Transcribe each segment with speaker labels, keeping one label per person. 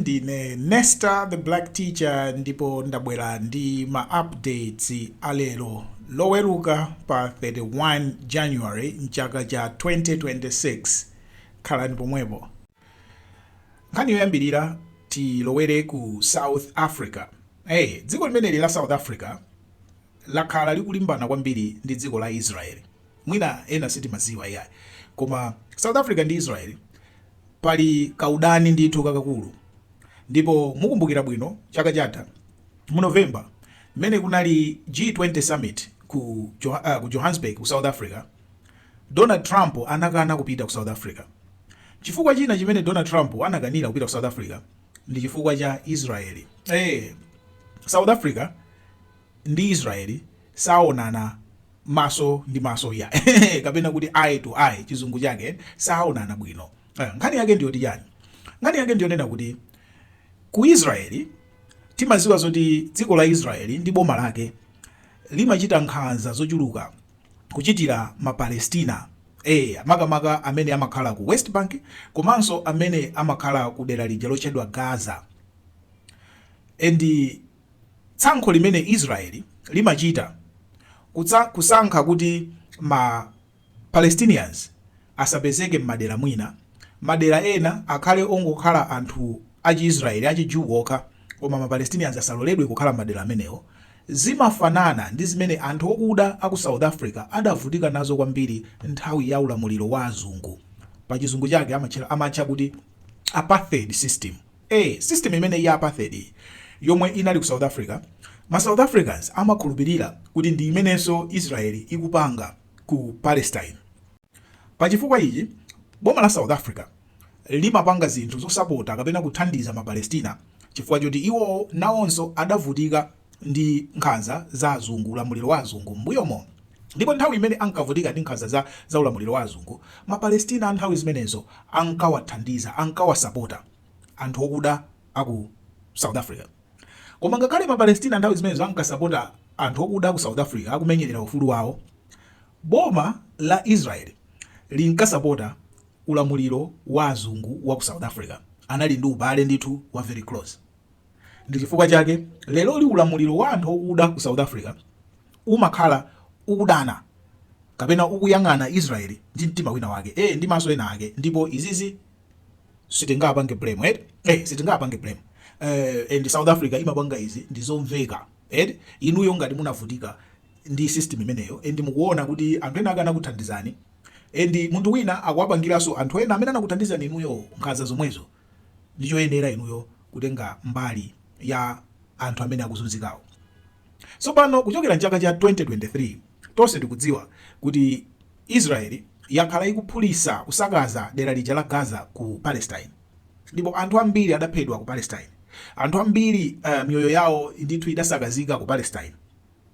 Speaker 1: ndine nesta the black teacher ndipo ndabwera ndi ma updates alero loweruka pa 31 january mchaka cha 2026 khalani pomwepo nkhani yoyambirira tilowere ku south africa hey, dziko limeneli la south africa lakhala likulimbana kwambiri ndi dziko la Israel mwina ena sitimaziwa iyayi koma South Africa ndi Israel pali kaudani ndithu kakakulu ndipo mukumbukira bwino chaka chatha mu November mmene kunali G20 summit ku, jo uh, ku Johannesburg ku South Africa Donald Trump anakana kupita ku South Africa chifukwa china chimene Donald Trump anakanira kupita ku South Africa ndi chifukwa cha Israel eh hey, South Africa ndi Israeli saonana maso ndi maso iya kapena kuti eye to eye chizungu chake saonana bwino eh, nkhani yake ndi yoti chani nkhani yake ndi yonena kuti ku Israeli timaziwa zoti dziko la Israeli ndi boma lake limachita nkhanza zochuluka kuchitira ma Palestina eh makamaka amene amakhala ku West Bank komanso amene amakhala ku dera lija lotchedwa Gaza and Tsankho limene Israeli limachita kutsa kusankha kuti ma Palestinians asapezeke mmadera mwina, madera ena akhale ongokhala anthu achi Israeli, achi Jew okha koma ma Palestinians asaloledwe kukhala mmadera amenewo, zimafanana ndi zimene anthu okuda aku South Africa adavutika nazo kwambiri nthawi ya ulamuliro wa azungu, pachizungu chake amatchera amatcha kuti Apartheid system. a. System imeneyi ya Apartheid iyi yomwe inali ku South Africa, ma South Africans amakhulupirira kuti ndi imenenso Israel ikupanga ku Palestine. Pa chifukwa ichi, boma la South Africa limapanga zinthu zosapota kapena kuthandiza ma Palestina chifukwa choti iwowo nawonso adavutika. ndi nkhanza za azungu, ulamuliro wa azungu, m'mbuyomo. Ndipo nthawi imene ankavutika ndi nkhanza za za ulamuliro wa azungu, Mapalestina nthawi zimenezo ankawathandiza, ankawasapota anthu okuda a ku South Africa. Koma ngakhale Mapalestina nthawi zimenezo ankasapota anthu okuda a ku South Africa akumenyerera ufulu wawo, boma la Israel linkasapota ulamuliro wa azungu wa ku South Africa, anali ndi ubale ndithu wa very close. Ndi chifukwa chake lero li ulamuliro wa anthu okuda ku South Africa umakhala ukudana kapena ukuyang'ana Israel ndi mtima wina wake eh ndi maso ena ake ndipo izizi sitingapange blame eti eh sitingapange blame eh and South Africa imapanga izi ndi zomveka eti inuyo ngati munavutika ndi system imeneyo and mukuona kuti anthu ena ake anakuthandizani and munthu wina akuwapangiranso anthu ena amene anakuthandizani inuyo nkhanza zomwezo ndi choyenera inuyo kutenga mbali ya anthu amene akuzunzikawo. Tsopano kuchokera m'chaka cha 2023, tonse tikudziwa kuti Israel yakhala ikuphulitsa, kusakaza dera lija la Gaza ku Palestine ndipo anthu ambiri adaphedwa ku Palestine, anthu ambiri miyoyo yawo ndithu idasakazika ku Palestine.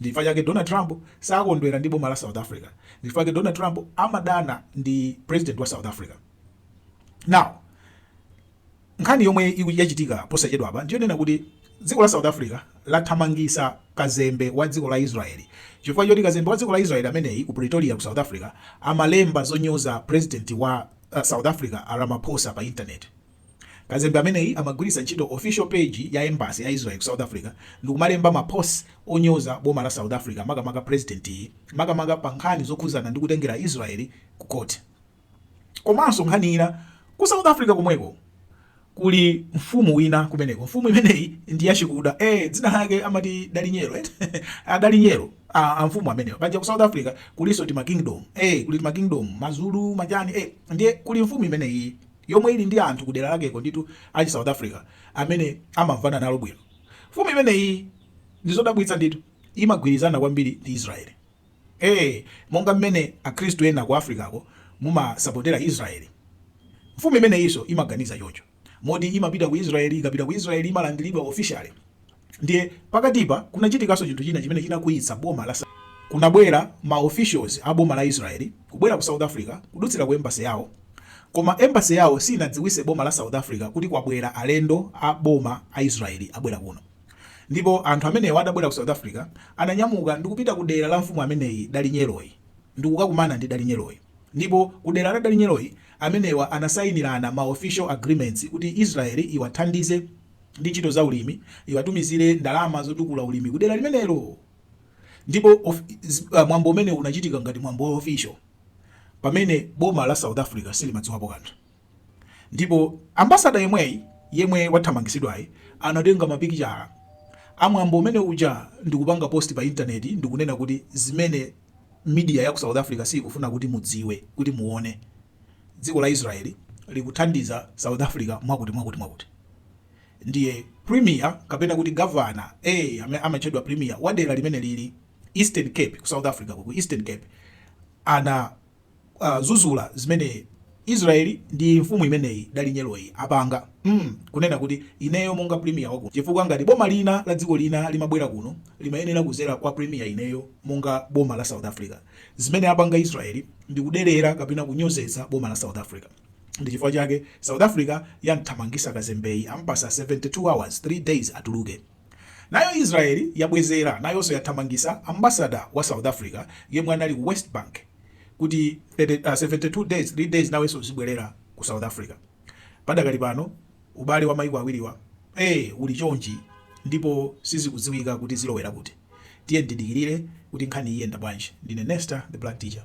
Speaker 1: Ndichifukwa chake Donald Trump sakondwera ndi boma la South Africa. Ndichifukwa chake Donald Trump amadana ndi president wa South Africa. Now, nkhani yomwe yachitika posachedwapa ndiyonena kuti dziko la South Africa lathamangisa kazembe wa dziko la Israeli chifukwa choti kazembe wa dziko la Israeli ameneyi ku Pretoria ku South Africa amalemba zonyoza president wa uh, South Africa Ramaphosa pa internet. Kazembe ameneyi amagwiritsa ntchito official page ya embassy ya Israel ku South Africa ndikumalemba mapost onyoza boma la South Africa makamaka president yi makamaka pa nkhani zokhuzana ndi kutengera Israel ku court. Komanso nkhani ina ku South Africa komweko kuli mfumu wina kumeneko. Mfumu imeneyi ndi yachikuda eh, dzina lake amati Dalinyero eh? Adalinyero ah, a mfumu amenewa paja ku South Africa kulinso tima kingdom eh, kuli tima kingdom mazulu majani eh, ndiye kuli mfumu imeneyi yomwe ili ndi anthu kudera lakeko ndithu a chi South Africa amene amamvana nalo bwino. Mfumu imeneyi ndi zodabwitsa ndithu imagwirizana kwambiri ndi Israel. Ee, monga mmene Akhristu ena ku Africako mumasapotera Israel, mfumu imeneyinso imaganiza choncho, moti imapita ku Israel. Ikapita ku Israel imalandiridwa officially. ndiye pakatipa kunachitikanso chinthu china chimene chinakwiyitsa boma la kunabwera ma officials a boma la Israel kubwera ku South Africa kudutsira ku embassy yawo koma embassy yawo sinadziwise boma la South Africa kuti kwabwera alendo a boma a Israel abwera kuno ndipo anthu amenewo adabwera ku South Africa ananyamuka ndi kupita ku dera la mfumu ameneyi Dalinyeloyi ndi kukakumana ndi Dalinyeloyi ndipo ku dera la Dalinyeloyi amenewa anasayinirana ma official agreements kuti Israel iwathandize ndi ntchito za ulimi iwatumizire ndalama zotukula ulimi ku dera limenelo. Ndipo of, z, uh, mwambo umene unachitika ngati mwambo wa official pamene boma la South Africa silimadziwapo kanthu. Ndipo ambasada yemweyi yemwe wathamangisidwayi anatenga mapikichara a mwambo umene uja ndikupanga post pa intaneti ndikunena kuti zimene media ya ku South Africa sikufuna kuti mudziwe kuti muone dziko la Israel likuthandiza South Africa mwakuti mwakuti mwakuti ndiye Premier kapena kuti Governor ee amene amatchedwa Premier wa dera limene lili Eastern Cape ku South Africa ku Eastern Cape ana uh, zuzula zimene Israel ndi mfumu imeneyi Dalindyeboyi apanga mm, kunena kuti ineyo monga premier wa kuno chifukwa ngati boma lina la dziko lina limabwera kuno limayenera kuzera kwa premier ineyo monga boma la South Africa Zimene apanga Israel ndi kuderera kapena kunyozetsa boma la South Africa. Ndi chifukwa chake South Africa yamthamangisa kazembeyi ampasa 72 hours, 3 days atuluke. Nayo Israel yabwezera nayonso yathamangisa ambassador wa South Africa yemwe anali ku West Bank kuti 30, uh, 72 days, 3 days nawenso uzibwerera ku South Africa. Padakali pano ubale wa maiko awiriwa eh uli chonchi ndipo sizikudziwika kuti zilowera kuti. Tiyeni tidikirire kuti nkhani iyenda bwanji. Ndine Nesta the Black Teacher.